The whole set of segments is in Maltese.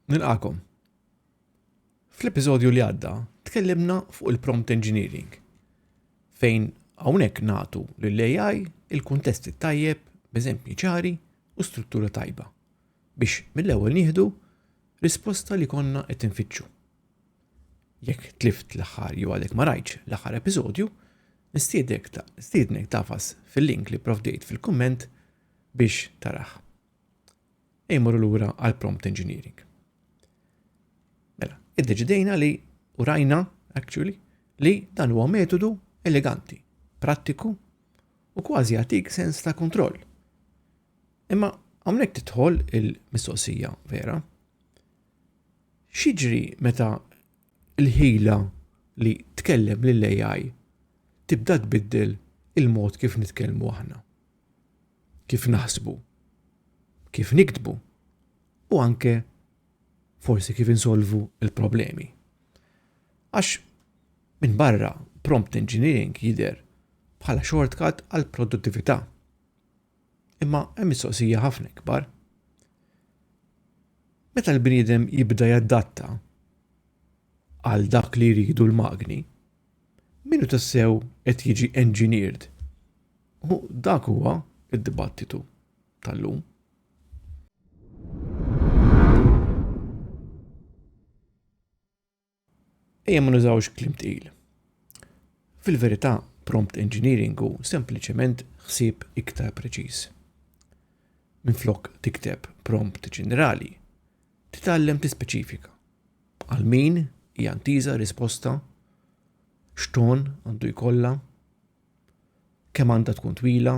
Nilqakom. Fl-episodju li għadda, tkellimna fuq il-prompt engineering, fejn hawnhekk natu lill-AI il-kuntesti tajjeb b'eżempji ċari u struttura tajba biex mill-ewwel nieħdu risposta li konna qed infittxu. Jekk tlift l-aħħar jew għadek ma rajtx l-aħħar episodju, nistiednek tagħfas fil-link li pprovdejt fil-kumment biex tarah. Ejja mmorru lura għal prompt engineering. Mela, iddeċidejna li u rajna actually li dan huwa metodu eleganti, prattiku u kważi għatik sens ta' kontroll. Imma hawnhekk titħol il-mistoqsija vera. X'jiġri meta l-ħila li tkellem lill-AI tibda tbiddel il-mod kif nitkellmu aħna, kif naħsbu, kif niktbu u anke forsi kif insolvu l-problemi? Għax minn barra prompt engineering jidher bħala shortcut għall-produttività. Imma hemm mistoqsija ħafna ikbar. Meta l-bniedem jibda jaddatta għal dak li jridu l-magni, minu tassew qed jiġi engineered? U dak huwa id-dibattitu tal-lum. Ejja ma nużawx kliem tqil. Fil-verità, prompt engineering hu sempliċement ħsieb iktar preċiż. Minflok tikteb prompt ġenerali, titgħallem tispeċifika għal min hija ntiża risposta, x'ton għandu jkollha, kemm għandha tkun twila,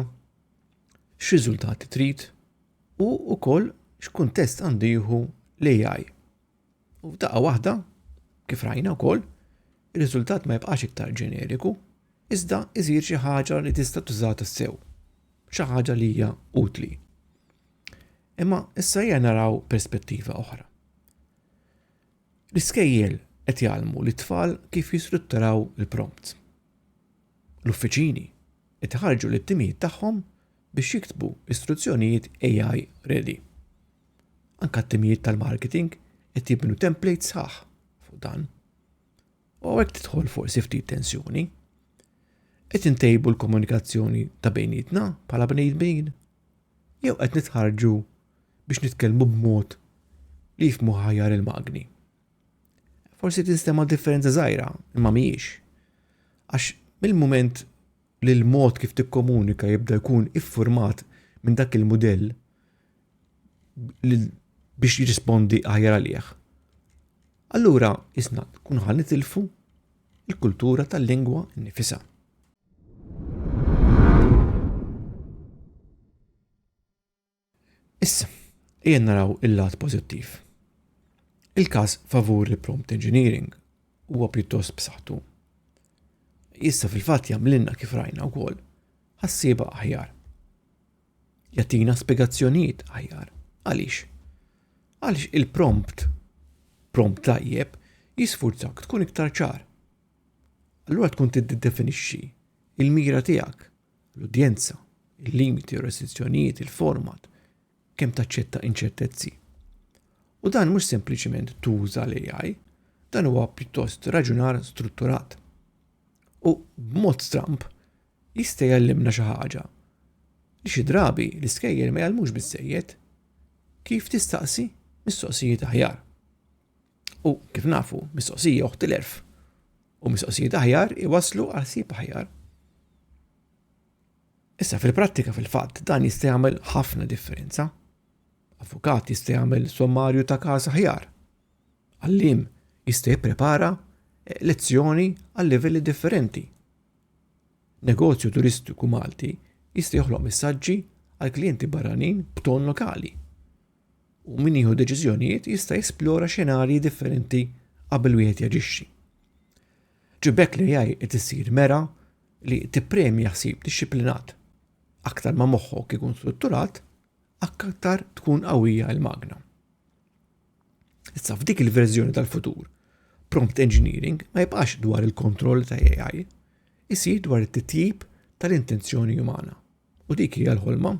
x'riżultati trid u wkoll x'kuntest għandu jieħu l-AI. U f'daqqa waħda, kif rajna wkoll, ir-riżultat ma jibqax iktar ġeneriku, iżda iżir xi ħaġa li tista' tuża tassew, xi ħaġa li hija utli. Imma issa hija naraw perspettiva oħra. L-iskejjel qed jgħallmu li tfal kif jistrutturaw il-prompt. L-uffiċini qed iħarġu lit-timijiet tagħhom biex jiktbu istruzzjonijiet AI ready. Anke t-timijiet tal-marketing qed jibnu template sħaħ fuq dan. U għek tidħol fuq sifti tensjoni. Qed intejbu l-komunikazzjoni ta' bejnietna bħala bnejmin. Jew qed nitħarġu biex nitkellmu b'mod li jifmu ħajar il-magni. Forsi tinstema differenza żgħira, imma mhijiex. Għax mill-moment li l-mod kif tikkomunika jibda jkun iffurmat minn dak il-mudell biex jirrispondi aħjar għalih. Allura isna kun ħan nitilfu il-kultura tal-lingwa nifisa. Issa, ejja naraw il-lat pożittiv. Il-każ favur il-prompt engineering huwa pjuttost b'saħħtu. Issa fil-fatt jagħmlilna kif rajna wkoll ħassieba aħjar. jagħtina spjegazzjonijiet aħjar. Għaliex? Għaliex il-prompt, prompt tajjeb, jisfurzak tkun iktar ċar. Allura tkun tiddefinixxi il-mira tiegħek, l-udjenza, il-limiti u restrizzjonijiet, il-format, kemm taċċetta inċertezzi. U dan mhux sempliċement tuża l-AI, dan huwa pjuttost raġunar strutturat. U b'mod stramp, Jista' jgħallimna xi ħaġa li xi drabi l-iskejjel ma jgħallmux biżżejjed, kif tistaqsi mistoqsijiet aħjar. U kif nafu, mistoqsija oħt l-erf u mistoqsijiet aħjar iwaslu għal sib aħjar. Issa fil-prattika fil-fatt dan jista' jagħmel ħafna differenza. Avukat jista' jagħmel sommarju ta' każ aħjar. Għallim jista' jipprepara eh, lezzjoni għal livelli differenti. Negozju turistiku Malti jista' joħloq messaġġi għal klijenti barranin b'ton lokali, u min jieħu deċiżjonijiet jista' jesplora xenarji differenti qabel wieħed jaġixxi. Ġi b'hekk l-AI qed issir mera li tippremja ħsieb dixxiplinat. Aktar ma moħħok ikun strutturat, aktar tkun qawwija l-magna. Issa f'dik il-verżjoni tal-futur, prompt engineering ma jibqax dwar il-kontroll ta' AI, isir dwar it-titjib tal-intenzjoni umana. U dik hija l-ħolma.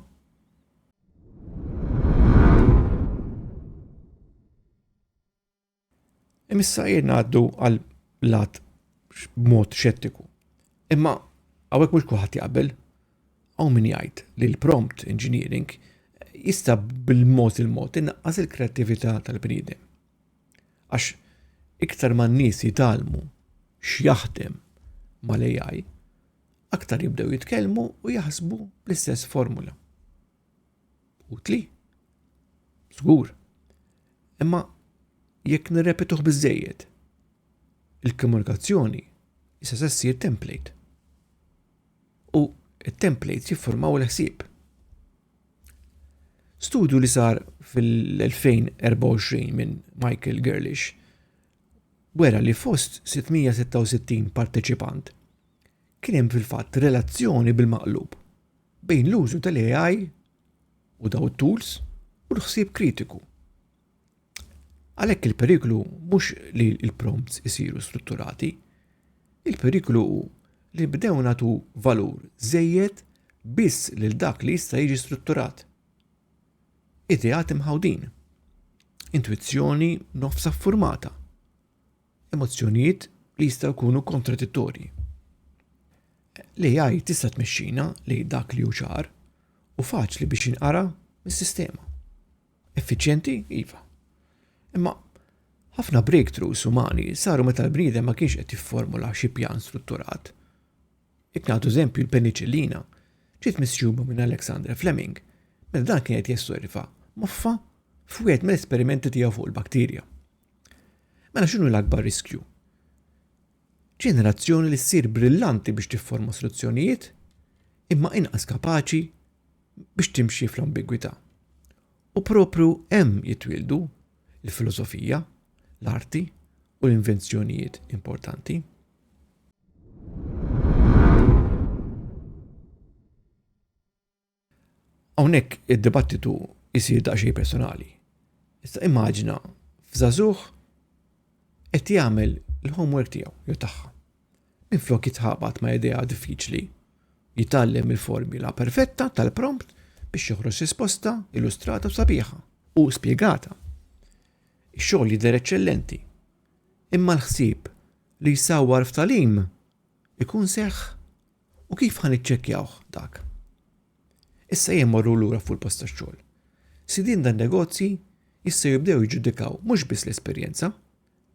Imissa jirna għaddu għal lat mod xettiku. Imma hawnhekk mhux kulħadd jaqbel. Hawn min jgħid li l-prompt engineering jista' bil-mod il-mod inqas il-kreattività tal-bniedem. Għax iktar ma n-nies jitalmu x'jaħdem mal-AI, aktar jibdew jitkellmu u jaħsbu bl-istess formula. Utli. Żgur. Imma jekk nirrepetuh biżejjed, il-komunikazzjoni issa se ssir template. U it-templates jiffurmaw il-ħsieb. Studju li sar fil-2024 minn Michael Gerlish wera li fost 666 parteċipant kien hemm fil-fatt relazzjoni bil-maqlub bejn l-użu tal-AI u daw it-tools u l-ħsieb kritiku. Għalhekk il-periklu mhux li l-prompts isiru strutturati, il-periklu hu li bdew nagħtu valur żejjed biss lil dak li jista' jiġi strutturat. Ideat imħawdin. Intwizzjoni nofsa ffurmata. Emozzjonijiet li jistgħu jkunu kontradittorji. L-AI tista' tmexxina lejn dak li hu ċar u faċli biex jinqara mis-sistema. Effiċjenti? Iva. Imma ħafna breakthroughs umani saru meta l-bniedem ma kienx qed jifformula xi pjan strutturat. Jekk nagħtu eżempju l-peniċillina ġiet misjuba minn Alexander Fleming meta dan kien qed jessorva moffa f'wieħed mill-esperimenti tiegħu fuq il-bakterja. Mela x'inhu l-akbar riskju? Ġenerazzjoni li ssir brillanti biex tifforma soluzzjonijiet imma inqas kapaċi biex timxi fl-ambigwità. U propju hemm jitwieldu l-filosofija, l-arti u l-invenzjonijiet importanti. Hawnhekk id-dibattitu jsir daqsxejn personali. Issa immaġina f'żagħżugħ qed jagħmel il-homework tiegħu jew tagħha. Minflok jitħabat ma' idea diffiċli, jitgħallem il-formula perfetta tal-prompt biex joħroġ risposta illustrata u sabiħa u spjegata. Ix-xogħol jidher eċċellenti. Imma l-ħsieb li jsawwar f'talim ikun seħħ u kif ħa niċċekkjawh dak? Issa jien morru lura fuq il-post tax-xogħol. Sidien dan negozji jistgħu jibdew jiġġudikaw mhux biss l-esperjenza,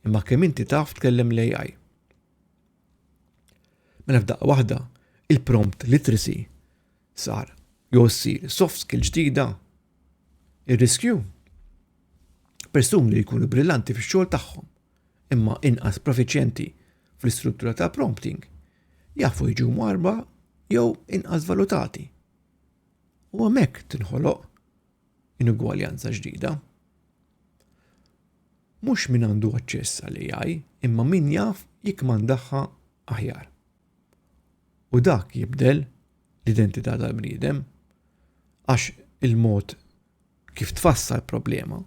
imma kemm inti taf tkellem l-AI. Mela f'daqqa waħda, il-prompt literacy sar jew ssir soft skill ġdida. Ir-riskju persuni li jkunu brillanti fix-xogħol tagħhom imma inqas profiċjenti fl-istruttura ta' prompting jafu jiġu mwarba jew inqas valutati. U hemmhekk tinħoloq inugwaljanza ġdida. Mhux min għandu aċċess għal AI, imma min jaf jikmandaħħa aħjar. U dak jibdel l-identità tal-bniedem għax il-mod kif tfassal problema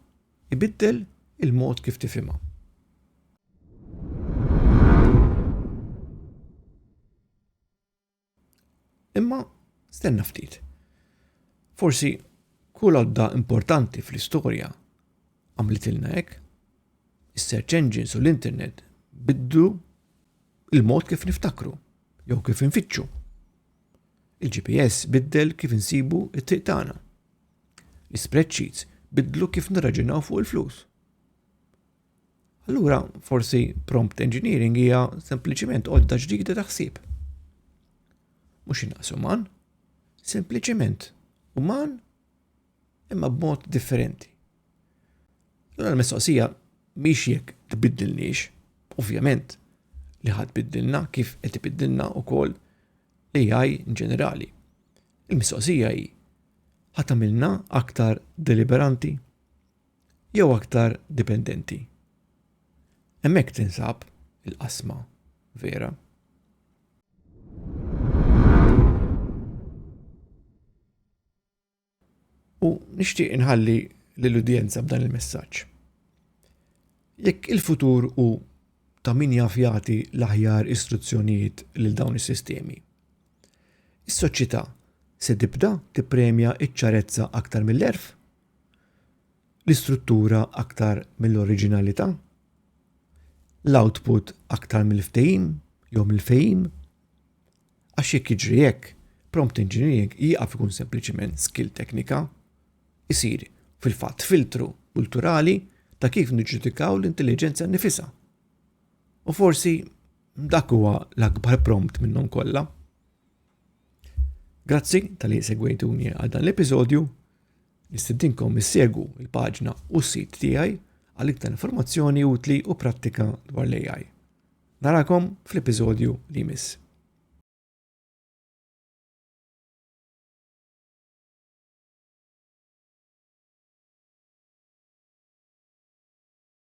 Ibiddel il-mod kif tifhimha. Imma stenna ftit. Forsi kull għodda importanti fl-istorja għamlitilna hekk. Is-search engines u l-internet biddu il-mod kif niftakru jew kif infittxu. Il-GPS biddel kif insibu it-triq tagħna. L-ispreadsheets biddlu kif nirraġunaw fuq il-flus. Allura, forsi prompt engineering hija sempliċiment għodda ġdida ta' ħsieb. Mhux inqas uman, sempliċiment uman imma b'mod differenti. Allora l-mistoqsija mhix jekk tbiddilniex, ovvjament li ħadd biddilna kif qed ibiddilna wkoll l-AI in ġenerali. Il-mistoqsija hi ħa tagħmilna aktar deliberanti jew aktar dipendenti? Hemmhekk tinsab il-qasma vera. U nixtieq inħalli lill-udjenza b'dan il-messaġġ. Jekk il-futur u ta' min jaf jagħti l-aħjar istruzzjonijiet lil dawn is-sistemi, Is-Soċjetà se tibda tippremja ċ-ċarezza aktar mill-għerf? L-istruttura aktar mill-oriġinalità? L-output aktar mill-ftehim jew mill-fehim? Għax jekk jiġri hekk, prompt engineering jieqaf ikun sempliċiment skill teknika, isir fil-fatt filtru kulturali ta' kif niġġudikaw l-intelliġenza nnifisha. U forsi Dak huwa l-akbar prompt minnhom kollha. Grazzi tal-li segwejtuni għal dan l-episodju. Nistedinkom issegu il-paġna u s-sit tiegħi għal iktar informazzjoni utli u prattika dwar l-AI. Narakom fl-episodju li jmiss.